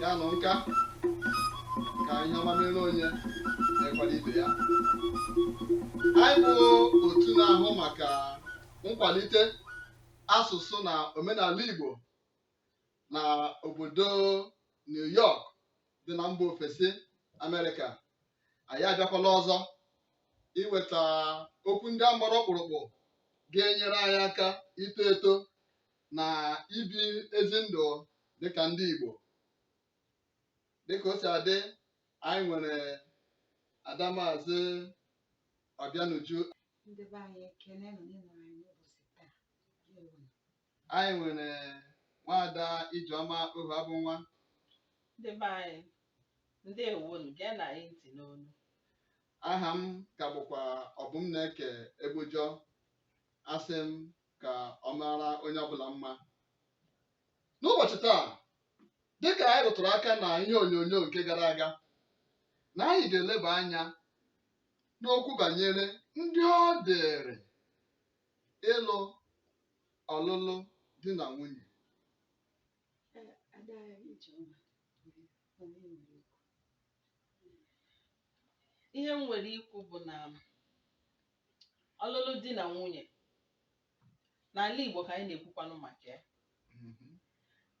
ya nụ nka ka ihe ọma mere onye na-ekwado ibe ya anyị bụ otu na-ahụ maka nkwalite asụsụ na omenala Igbo na obodo New York dị na mba ofesi Amerịka anyị abịakwala ọzọ iweta okwu ndị a gbara ọkpụrụkpụ ga-enyere anyị aka ito eto na ibi ezi ndụ dịka ndị Igbo dịka o si adị anyị nwere Adamaazị Ọbịanuju ndị be anyị ekene nọ n'ịnọ anyị n'ụbọchị taa Ndewo. anyị nwere nwaada Ijeọma Ohuabụnwa ndị be anyị ndewonu geenụ anyị ntị n'onu aha m ka bụkwa Ọbụmneke Egbujọ asị m ka ọ mara onye ọbụla mma n'ụbọchị taa dịka anyị rụtụrụ aka na ihe onyonyo nke gara aga na anyị ga-eleba anya n'okwu banyere ndị ọ dịrị ịlụ ọlụlụ di na nwunye ihe m nwere ikwu bụ na ọlụlụ di na nwunye n'ala Igbo ka anyị na-ekwukwanụ maka ya mhm.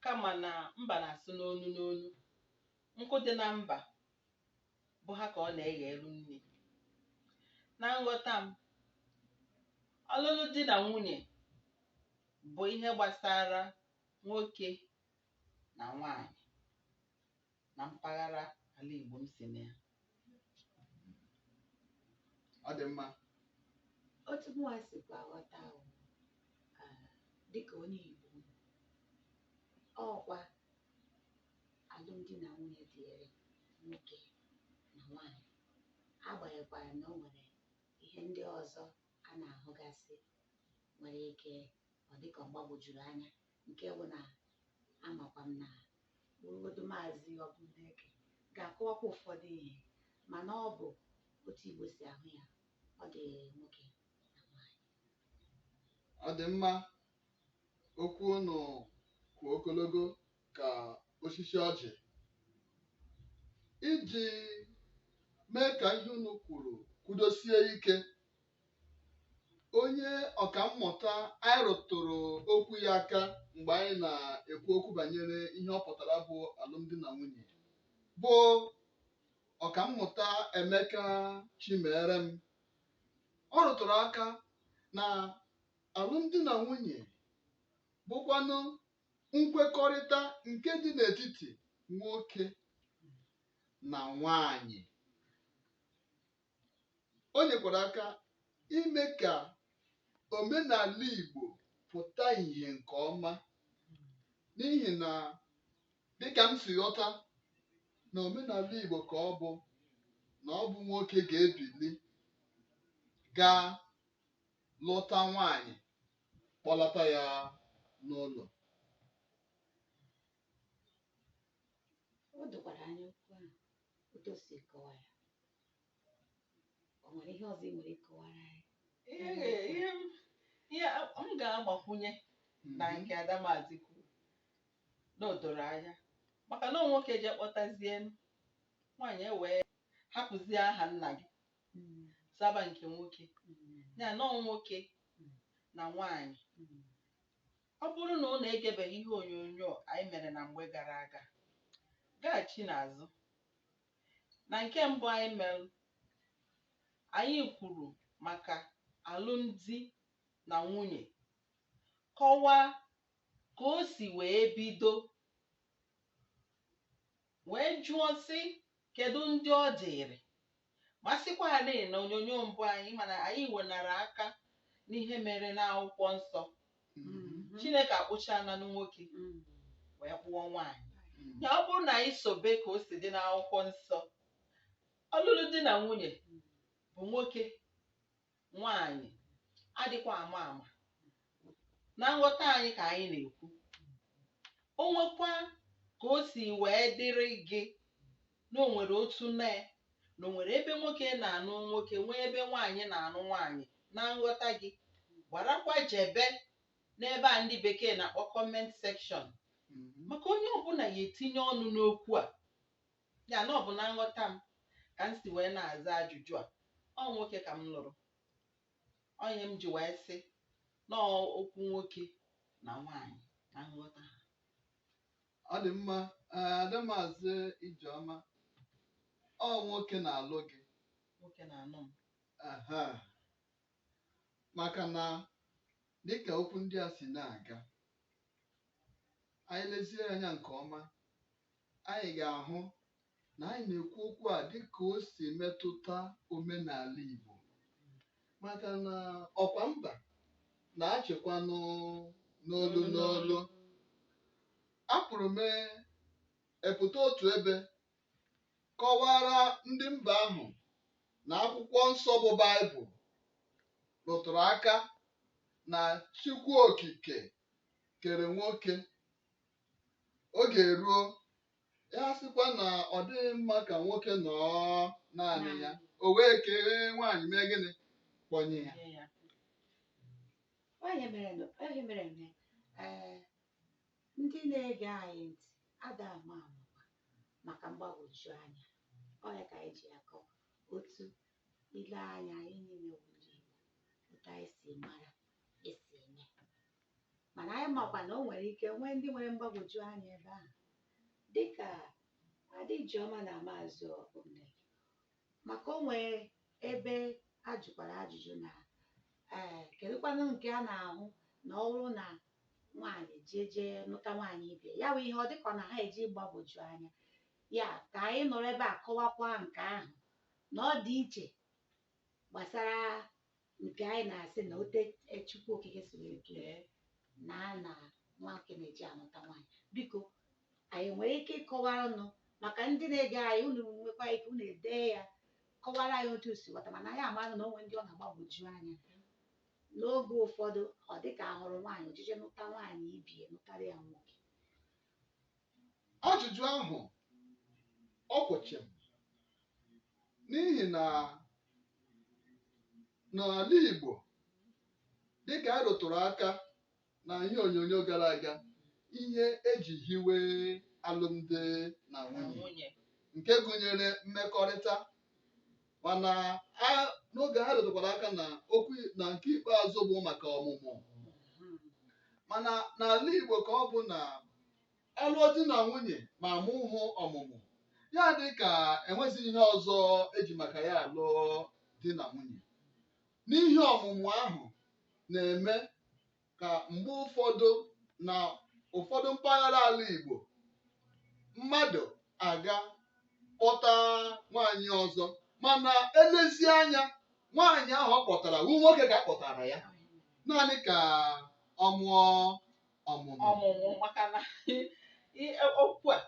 kama na mba na-asụ n'onu n'onu nkụ dị na mba bụ ha ka ọ na-eghelu nni na nghọta m ọlụlụ di na nwunye bụ ihe gbasara nwoke na nwanyị na mpaghara ala Igbo m si na ya. Ọ dị mma. Otu mụnwa sikwa ghọta bụ ah, dịka onye Igbo m, ọkwa alụmdi na nwunye dịịrị nwoke na nwaanyị agbanyekwara na o nwere ihe ndị ọzọ a na-ahụgasị nwere ike ọ dịka ọ gbagwojuru anya nke bụ na amakwa m na bụrụgodu maazị Ọbụmneke ga-akọwakwa ụfọdụ ihe mana ọ bụ otu Igbo si ahụ ya ọ dị nwoke na nwaanyị ọ dị mma okwu unu kwụ ogologo ka osisi ọjị iji mee ka ihe unu kwuru kwudosie ike onye ọka mmụta anyị rụtụrụ okwu ya aka mgbe anyị na-ekwu okwu banyere ihe ọ pụtara bụ alụmdi na nwunye bụ ọka mmụta Emeka Chimerem ọ rụtụrụ aka na alụmdi na nwunye bụkwanụ nkwekọrịta nke dị n'etiti nwoke na nwanyị o nyekwara aka ime ka omenala Igbo pụta ìhè nke ọma n'ihi na dịka m si ghọta na omenala Igbo ka ọ bụ na ọ bụ nwoke ga-ebili gaa lụta nwaanyị kpọlata ya n'ụlọ o dokwara anya okwu ahụ otu o si kọwa ya o nwere ihe ọzọ ị nwere ịkọwara anyị ihe ga- ihe m- ihe m ga-agbakwunye na nke Ada Maazị kwuru na o doro anya maka na ọ nwoke je kpọtazie m, nwaanyị ewee hapụzie aha nna gị Mm, zaba nke nwoke mm, ya na ọ nwoke Mm. na nwaanyị mm. ọ bụrụ na unu egebeghị ihe onyonyo anyị mere na mgbe gara aga gaghachi n'azụ Na nke mbụ anyị mere, anyị kwuru maka alụmdi na nwunye, kọwaa ka o si wee bido, wee jụọ sị kedu ndị ọ dịịrị ma sịkwarị na onyonyo mbụ anyị ma na anyị wenara aka n'ihe mere n'akwụkwọ nsọ Mm. chineke akpụchaananụ nwoke Mm. wee kpụọ nwaanyị Mm. ya ọ bụrụ na anyị sobe ka o si dị n'akwụkwọ nsọ ọlụlụ di na nwunye bụ nwoke nwaanyị adịkwa ama ama na nghọta anyị ka anyị na-ekwu o nwekwa ka o si wee dịrị gị na o nwere otu mee na o nwere ebe nwoke na-anụ nwoke nwee ebe nwaanyị na-anụ nwaanyị na nghọta gị gbarakwa jebe n'ebe a ndị bekee na-akpọ comment section maka onye ọbụla ya-etinye ọnụ n'okwu a ya na ọ bụ na nghọta m ka m si wee na-aza ajụjụ a ọ nwoke ka m lụrụ ọ nya m ji wee sị na ọ okwu nwoke na nwaanyị na nghọta ha Ọ dị mma ee ada Maazị Ijeọma. Ọ nwoke na-alụ gị. Nwoke na-alụ m. Aha. Maka na dịka okwu ndị a si na-aga, anyị lezie anya nke ọma, anyị ga-ahụ na anyị na-ekwu okwu a dịka o si metụta omenala Igbo maka na ọkwa mba na-achịkwa n'o- n'olu n'olu apụrụ m epụta otu ebe kọwara ndị mba ahụ na akwụkwọ nsọ bụ Baịbụl rụtụrụ aka na Chukwu Okike kere nwoke oge eruo ya sịkwa na ọ dịghị mma ka nwoke nọọ naanị ya o wee kee nwaanyị mee gịnị kpọnye ya Nye ya. Ọ ihe mere na ọ ihe mere na ee ndị na-ege anyị ntị ada ama ama maka mgbagwoju anya ọ ya ka anyị ji akọ otu ile anya anyị niile bụ ndị Igbo otu anyị si mara esi eme mana anyị makwa na o nwere ike nwee ndị nwere mgbagwoju anya ebe ahụ dịka Ada Ijeọma na Maazị Ogbonnaya maka o nwee ebe a jụkwara ajụjụ na ee kedụkwanụ nke a na-ahụ na ọ bụrụ na nwaanyị jee jee nụta nwaanyị ibe ya bụ ihe ọ dịka ọ na ha eji gbagwoju anya ya ka anyị nọrọ ebe a kọwakwa nke ahụ na ọ dị iche gbasara Nke anyị na-asị na otu Chukwu Okike si wee kee na a na nwoke na-eje anụta nwaanyị biko anyị nwere ike ịkọwara nụ maka ndị na-ege anyị unu nwekwa ike unu edee ya kọwara anyị otu si ghọta mana anyị amaghị na o nwee ndị ọ na-agbagwoju anya n'oge ụfọdụ ọ dị ka ahụrụ nwaanyị o jee jee nụta nwaanyị ibe ya nụtara ya nwoke Ajụjụ ahụ ọ kwụ chịm n'ihi na n'ala Igbo dịka a rụtụrụ aka na ihe onyonyo gara aga ihe eji hiwe alụmdi na nwunye nke gụnyere mmekọrịta mana a- n'oge ha rụtụkwara aka na okwu na nke ikpeazụ bụ maka ọmụmụ mana n'ala Igbo ka ọ bụ na a lụọ di na nwunye ma amụhụ ọmụmụ ya adị ka enwezi ihe ọzọ eji maka ya alụ di na nwunye n'ihi ọmụmụ ahụ na-eme ka mgbe ụfọdụ na ụfọdụ mpaghara ala Igbo mmadụ aga kpọta nwaanyị ọzọ mana elezi anya nwaanyị ahụ ọ kpọtara wu nwoke ka a kpọtara ya naanị ka ọ mụọ ọmụmụ ọmụmụ maka na i- i- okwu a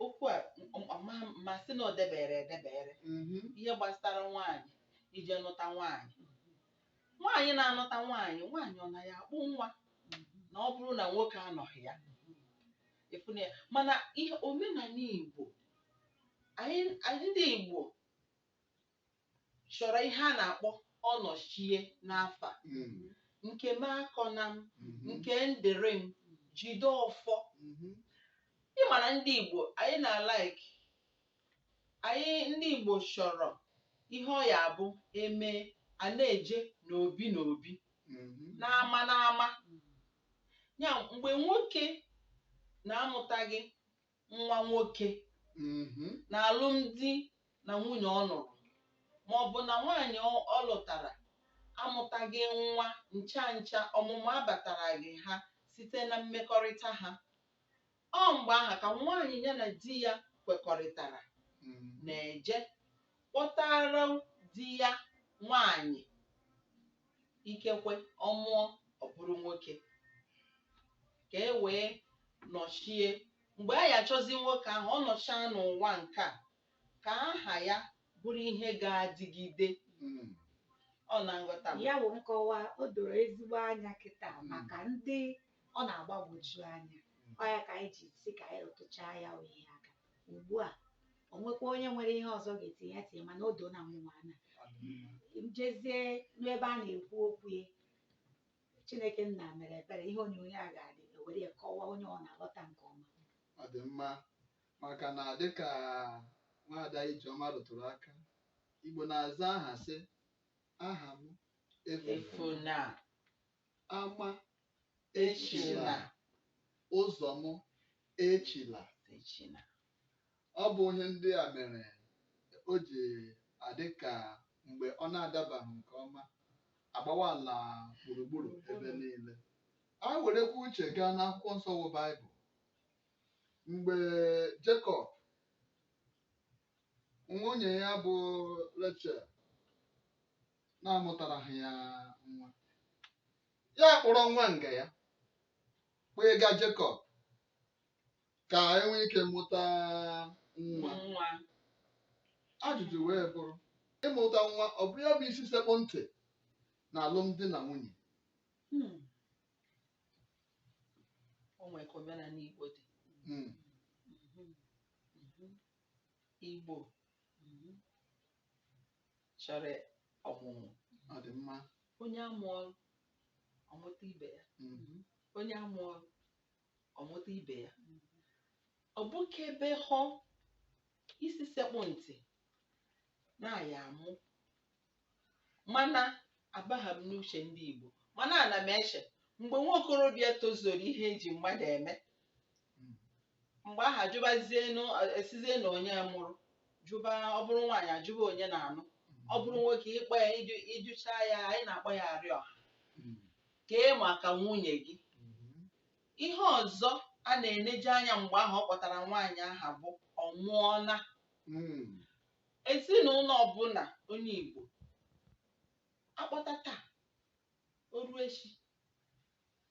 okwu a m- m- ma ma sị na o debere edebere Mhm. ihe gbasara nwaanyị ije nụta nwaanyị nwaanyị na-anụta nwaanyị nwaanyị ọ na ya akpụ nwa na ọ bụrụ na nwoke anọghị ya efuna ya mana ihe omenala Igbo anyị anyị ndị Igbo chọrọ ihe a na-akpọ ọnọchie n'afa Mm. nke m akọna m Mhm. nke m dịrị m jide ọfọ Mhm. ị ma na ndị Igbo anyị na-alike Anyị ndị Igbo chọrọ ihe ọ ya-abụ e mee a na-eje n'obi n'obi mhm. n'ama n'ama ya mgbe nwoke na-amụtaghị nwa nwoke mhm. n'alụmdi na nwunye ọ nụrụ ma ọ bụ na nwaanyị ọ lụtara amụtaghị nwa ncha ncha ọmụmụ abataraghị ha site na mmekọrịta ha Ọ mgbe ahụ ka nwaanyị ya na di ya kwekọrịtara na-eje kpọtara di ya nwaanyị ikekwe ọ mụọ ọ bụrụ nwoke ka e wee nọchie mgbe a ya achọzi nwoke ahụ ọ nọchaa n'ụwa nke a ka aha ya bụrụ ihe ga-adịgide ọ na nghọta m. ya wụ nkọwa o doro ezigbo anya kịta maka ndị ọ na-agbagwoju anya ọ ya ka anyị ji sị ka anyị rụtụchaa ya wụ ihe aka ugbu a o nwekwa onye nwere ihe ọzọ ga-etinye ya tinye mana o doona mụnwa anya jezie n'ebe a na-ekwu okwu ya Chineke nna mere ebere ihe onyonyo a ga-adị e were ya kọwaa onye ọ na-aghọta nke ọma ọ dị mma maka na dịka nwaada Ijeọma rụtụrụ aka Igbo na-aza aha sị aha m efu efuna Ama echila ụzọ m echila. Echila. Ọ bụ ihe ndị a mere o ji adị ka mgbe ọ na-adabaghị nke ọma, a gbawa ala gburugburu ebe niile. Anyị werekwa uche gaa n'akwụkwọ nsọ wụ Baịbụl. Mgbe Jekọb, nwunye ya bụ Rechel, na-amụtaraghị ya nwa ya kpọrọ nwa nga ya kpọga Jekọb ka e nwee ike mụta nwa nwa ajụjụ wee bụrụ ịmụta nwa ọ bụ ya bụ isi sekpụ ntị n'alụmdi na nwunye Hmm. o nwere ka omenala Igbo dị Mm. Mhm. Mhm. Igbo Mhm. chọrọ ọmụmụ ọ dị mma onye amụọ ọ mụta ibe ya mm, onye amụọ ọ mụta ibe ya ọ bụ ka ebe ahụ isi sekpụ ntị n'anya mụ mana abaghị m n'uche ndị Igbo mana ana m eche mgbe nwa okorobịa tozuru ihe eji mmadụ eme mgbe ahụ ajụbazienu esizie na onye mụrụ jụba ọ bụrụ nwaanyị ajụba onye na-anụ ọ bụrụ nwoke ịkpọ ya ịjụ ịjụcha ya anyị na-akpọ ya arịọha kee maka nwunye gị ihe ọzọ a na-eneje anya mgbe ahụ ọ kpọtara nwaanyị aha bụ ọ mụọna ezinụlọ ọbụla onye Igbo akpọta taa o ruo echi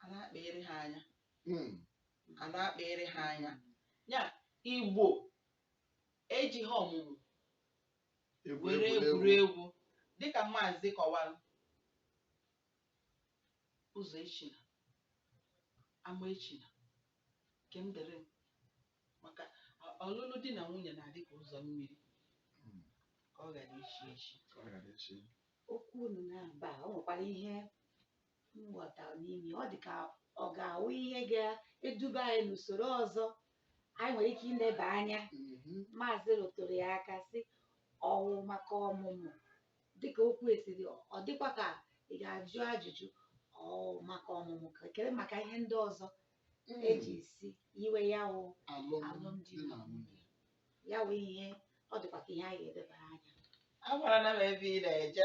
a na-akpịrị ha anya Hmm. a na-akpịrị ha anya ya igbo ejighị ọmụmụ Egwu were egwuregwu. egwuregwu dịka maazị kọwara ụzọ echina ama echina nke m dịrị m. maka ọ- ọlụlụ di na nwunye na-adị ka ụzọ mmiri Mm. ka ọ ghara ichi echi Ọ ghara echi. okwu unu naabọ o nwekwara ihe m ghọtara n'ime ya, ọ dị ka ọ ga-awụ ihe ga-eduba anyị n'usoro ọzọ anyị nwere ike ileba anya Mhm. maazị rụtụrụ ya aka sị ọ wụ maka ọmụmụ dịka o kwesiri ọ dịkwa ka ị ga-ajụ ajụjụ ọ wụ maka ọmụmụ ka kere maka ihe ndị ọzọ eji si iwe ya wụ alụmdi na nwunye ya wụ ihe ọ dịkwa ka ihe anyị ga-elebara anya amarana m ebe ị na-eje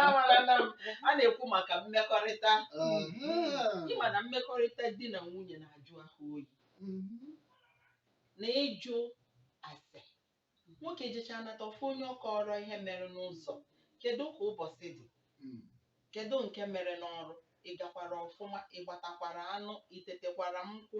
amarana m a na-ekwu maka mmekọrịta ị ma na mmekọrịta di na nwunye na-ajụ ahụ oyi na ịjụ ase nwoke jecha nata ọ fụ onye ọ kọọrọ ihe mere n'ụzọ kedu ka ụbọchị dị kedu nke mere n'ọrụ ị gakwara ọfụma ị gbatakwara anụ i tetekwara nkwụ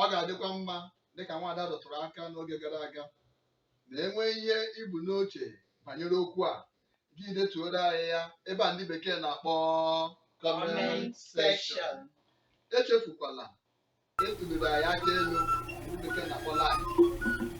Ọ ga-adịkwa mma dịka nwaada rụtụrụ aka n'oge gara aga na i nwee ihe i bu n'uche banyere okwu a gị detuoro anyị ya ebe a ndị bekee na-akpọ comment section. Echefukwala ịtụliri anyị aka elu ndị bekee na-akpọ like.